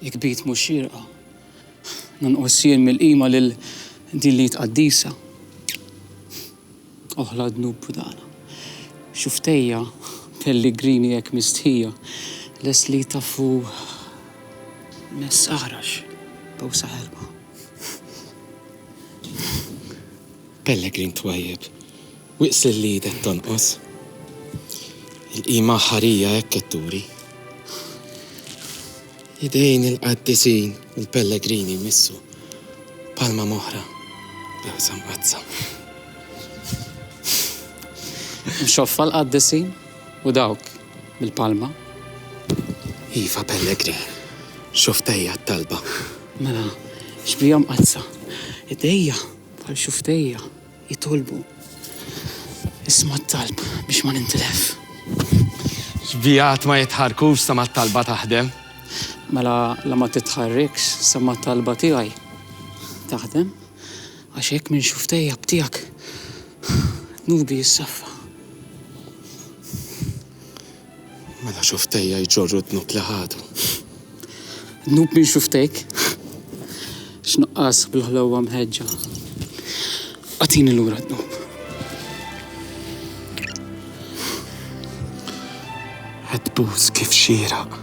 Jekk bit mhux xierqa, nonqos jien mill-qima lil din l-id qaddisa. Oħla dnub budana. Xuftejja pelligrini hekk mistħija, lest li jtaffu mess aħrax b'għusa ħerqa. Pellegrin twajjeb. Wieqsil li idek tonqos. Il-qima aħħarija hekk qed turi. Idejn il-qaddisin u l-pellegrini jmissu palma moħra bl-ħsa mqaddsa. U xoffa l-qaddisin u dawk bil-palma. Iva pellegrin, xoftejja t-talba. Mela, xbihom qadsa. Idejja bħal xoftejja. Jitolbu. Isma' t-talb biex ma nintilef. Xbijat ma jitħarrkux sa ma t-talba taħdem. Mela la ma titħarrikx sa ma t-talba tiegħi taħdem. Għax hekk minn xuftejja b'tiegħek dnubi jissaffa. Mela xuftejja jġorru d-dnub li ħadu. Dnub minn xuftejk? X'nuqqas bil-ħlewwa mħeġġa. Agħtini lura d-dnub. Qed tbus kif xieraq.